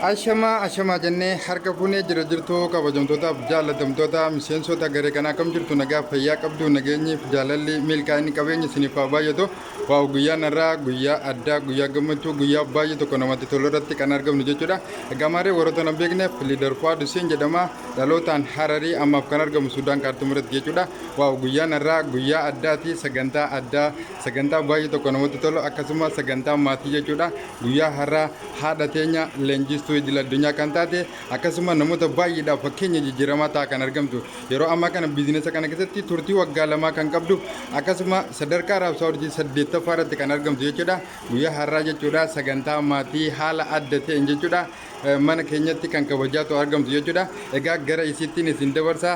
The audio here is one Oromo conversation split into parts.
Ashamaa ashamaa jennee harka fuunee jira jirtu kabajamtootaaf jaallatamtoota miseensota garee kanaa akkam jirtu nagaa fayyaa qabdu nageenyiif jaalalli milkaa'inni qabeenya isiniif haa baay'atu waa'u guyyaan irraa guyyaa addaa guyyaa gammachuu guyyaa baay'ee tokko namatti tolu irratti kan argamnu jechuudha egaa maaree warroota nan beekneef liidar fu'aad huseen jedhama dhalootaan hararii ammaaf kan argamu sudaan kaartuum irratti jechuudha waa'u guyyaan irraa guyyaa addaati sagantaa addaa sagantaa baay'ee tokko namatti tolu akkasumas sagantaa maatii jechuudha Guyyaa har'aa haadha teenya leenjistuu idil addunyaa kan taate akkasuma namoota baay'eedhaaf fakkeenya jijjiiramaa ta'a kan argamtu yeroo ammaa kana biizinesa kana keessatti turtii waggaa lamaa kan qabdu akkasuma sadarkaa raabsaa urjii saddeettaffaa irratti kan argamtu jechuudha guyyaa har'aa jechuudha sagantaa maatii haala adda ta'een jechuudha mana keenyatti kan kabajaatu argamtu jechuudha egaa gara isiittiin isin dabarsaa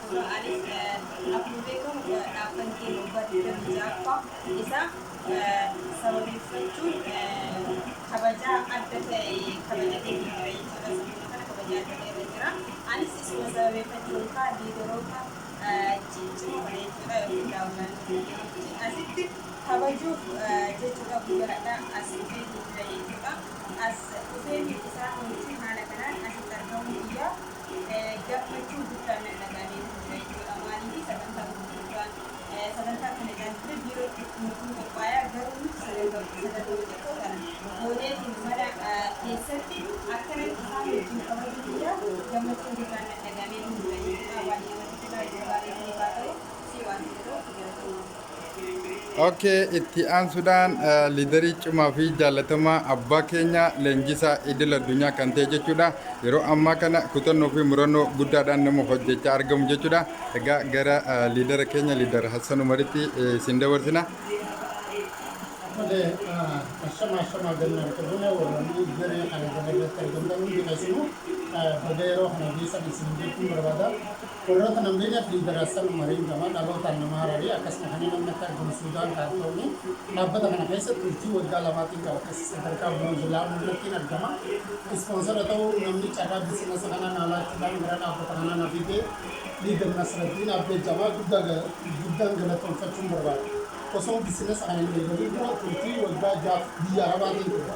Dura anis akkuma beekamu dhaabbanni keenya waggaa 26ffaa isaa sababeeffachuun kabajaa adda ta'e kabajateetiin jira jechuudha. Sirnuma kana kabajaa adda ta'e irra jira. Anis isuma sababeeffachuun kaa liidaroota ciccimoo kana jechuudha yookiin daawwataanota keenya wajjin asitti kabajuuf jechuudha guyyaa har'aa as dhufeetiin jira jechuudha. As dhufeetiin isaan wajjin haala kanaan asitti argamuu biyyaa gammachuu guddaan na dhaga'amee jira jechuudha. Maaliif sagantaa gurguddaan sagantaa kana ilaalchisee biiroo itti nutti qophaa'aa garuu nuti sagantaa sagantoota xiqqoo kana gooneetiin mana keessatti akkanan isaan wajjin kabajuu kiyyaaf gammachuu guddaan na dhaga'amee jira jechuudha. Baay'ee namatti tola yeroo gaarii isiniif haa ta'u si waan ta'eef galatoomaa. Okay, itti aansuudhaan eh, liidarii cimaa fi jaallatamaa abbaa keenya leenjisaa idil addunyaa kan ta'e jechuudha. Yeroo ammaa kana kutannoo fi murannoo guddaadhaan nama hojjechaa argamu jechuudha. Egaa gara eh, liidara keenya liidar Hassan Umaritti eh, isin dabarsina. Malee ashama ashama gannaan qabune warranii garee kana gama irratti argamtan hundi keessanuu baga yeroo kana geessan isin jechuun barbaada. Warroota namrii Nabi Darassan Umariin gama dhalootaan nama Hararii akkasuma kanneen namni akka argamu Suudaan Kaartoomii dhaabbata kana keessa turtii waggaa lamaatiin qaba akkasii sadarkaa Bronze Lamu irrattiin argama Ispoonsara ta'uu namni carraa biisinasa kanaa naa laachuudhaan gara dhaabbata kanaa na fide Leader Nasraddin Abdel Jamal guddaa guddaan galatoomfachuun barbaada Osoon biisinasa kana hin eegalin dura turtii waggaa 6f biyya Arabaatiin ture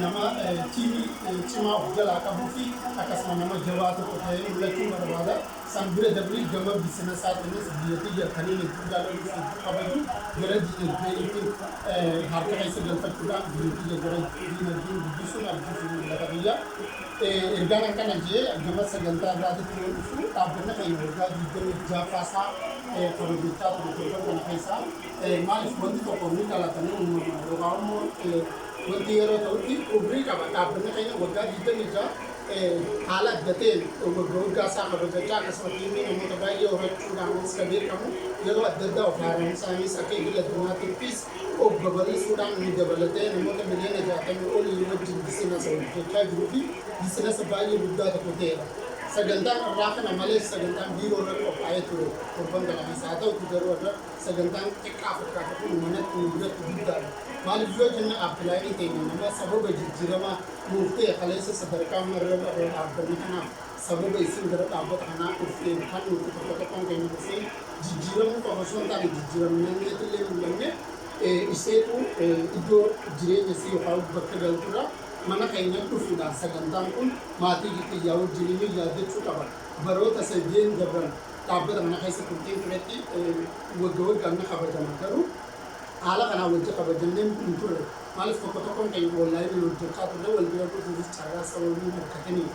Nama tiimii cimaa of jalaa qabuu fi akkasuma nama jabaa tokko ta'ee mul'achuun barbaada. San bira dabree gama bisinasaatiinis biyya tiyya taniin hedduu jaaladhuu fi hedduu kabaju gara diinagdee yookiin harka keessa galfachuudhaan biyya tiyya gara diinagdeen guddisuun abjuu fi mul'ata kiyya. Ergaan akkana je'e gama sagantaa irraatitti yoo dhufu dhaabbanni keenya waggaa 26ffaa isaa kabajachaa ture torban kana keessa. Maaliif wanti tokko ni dhalata, ni uumama, yookaan immoo wanti yeroo ta'utti umrii qaba. Dhaabbanni keenya waggaa 26 haala adda ta'een wagga waggaa isaa kabajachaa akkasumatti ilmii namoota baay'ee horachuudhaanis kan beekamu yeroo adda addaa of haaromsaanis akka idil addunyaatittis of babal'isuudhaan nu dabalatee namoota miliyoona 60 olii wajjin bisinasa hojjechaa jiruu fi bisinasa baay'ee guddaa tokko ta'eera. Sagantaan irraa kana malees sagantaan biiroo irra qophaa'ee ture torban kana keessa haa ta'uti garuu irra Sagantaan xiqqaa fakkaatu kun manatti nu biratti guddaadha. Maaliif yoo jenne Aappilaayiniin keenya nama sababa jijjiiramaa nuuf ta'e kaleessa sadarkaa marrab irra dhaabbanne kanaaf sababa isin gara dhaabbata kanaa dhufteef kan nuti tokko tokkoon keenya dhufnee jijjiiramuu qofa osoo hin taane jijjiiramneet illee mul'anne iseetu iddoo jireenya isii yookaan bakka galturra mana keenya dhufuudhaan sagantaan kun maatii kiyyaa wajjin ni yaaddachuu qaba baroota sadeen dabran dhaabbata kana keessa turtiin turetti wagga waggaan ni kabajama. Garuu haala kanaan wajji kabajannee hin turre. Maaliif tokko tokkoon keenya onlaayiniin hojjechaa turre wal bira dhufuufis carraa sababii hin argatiniif.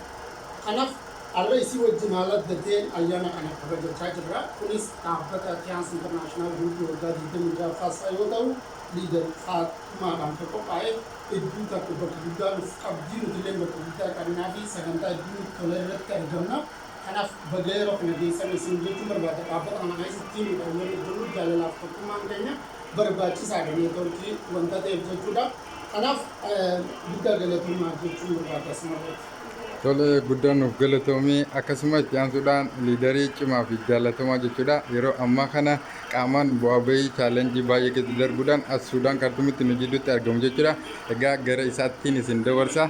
Kanaaf har'a isii wajjin haala adda ta'een ayyaana kana kabajachaa jirra. Kunis dhaabbata Tiyaans Internaashinaal Guruupii waggaa 26ffaa isaa yoo ta'u Liidar Faaxumaadhaan kan qophaa'e hedduu takka bakka guddaa nuuf qabdi. Nutilleen bakka guddaa qabnaafi sagantaa hedduu nutti tole irratti argamna. Kanaaf baga yeroo kana geessan isin jechuun barbaada. Dhaabbata kana keessa tiimiidhaan yoo hojjennu jaalalaaf tokkummaan keenya barbaachisaadha neetworkii wanta ta'eef jechuudha. Kanaaf guddaa galatoomaa jechuun barbaada asumarratti. Tole guddaa nuuf galatoomi. Akkasuma itti aansuudhaan liidarii cimaa fi jaalatamaa jechuudha. Yeroo ammaa kana qaamaan bu'aa bahii chaalenjii baay'ee keessa darbuudhaan as Suudaan Kaartumitti nu jidduutti argamu jechuudha. Egaa gara isaattiin isin dabarsa.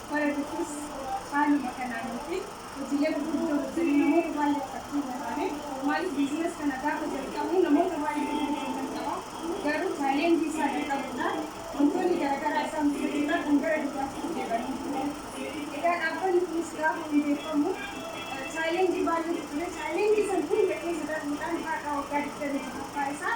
Bara dhufus haaluma kanaan yookiin hojiilee gurguddoo hojjannee namoota baay'ee argachuu hin taane. Maaliif business kana gaafa jalqabnu namoota baay'eetu wajjin jalqaba. Garuu challenge isaa dadhabuudha. Wantoonni garagaraa isaan mudachuudhaan kan gara duubaatti nu deebanii jiru jechuudha. Egaa dhaabbanni kunis gaafa hundeeffamu challenge baay'eetu ture. Challenge san hunda keessa darbuudhaan har'a waggaa 26ffaa isaa